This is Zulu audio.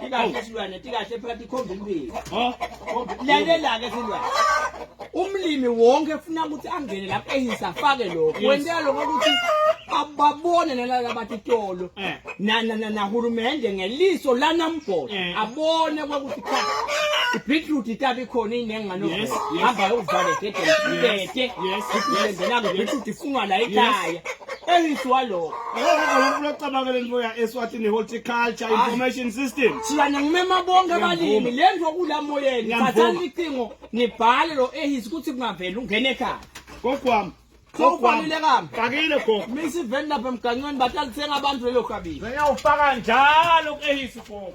tikahle silwane tikahle phakathi ikhomba impilo lalela-ke silwane umlimi wonke funa ukuthi angene lapho ehisa afake lokho wentela lokho ukuthi ababone nalala bathi tolo eh. nahulumende ngeliso lanambhodo eh. abone kwakuthi cha i-beetroot itabi khona inenganohamba hamba yokuvale gedebete ibeetroot ifunwa la ekhaya engisiwa lokho locabangele into ya eswatini horticulture information system siyana ngimema bonke abalimi le nto kula moyeni thathani icingo nibhale lo ehisi ukuthi kungaveli ungene ekhaya kokwami Sokubalulekami. Kakile gogo. Misa iveni lapha emganqweni batalithenga abantu lelo gabile. Ngiyawufaka njalo kuehisi gogo.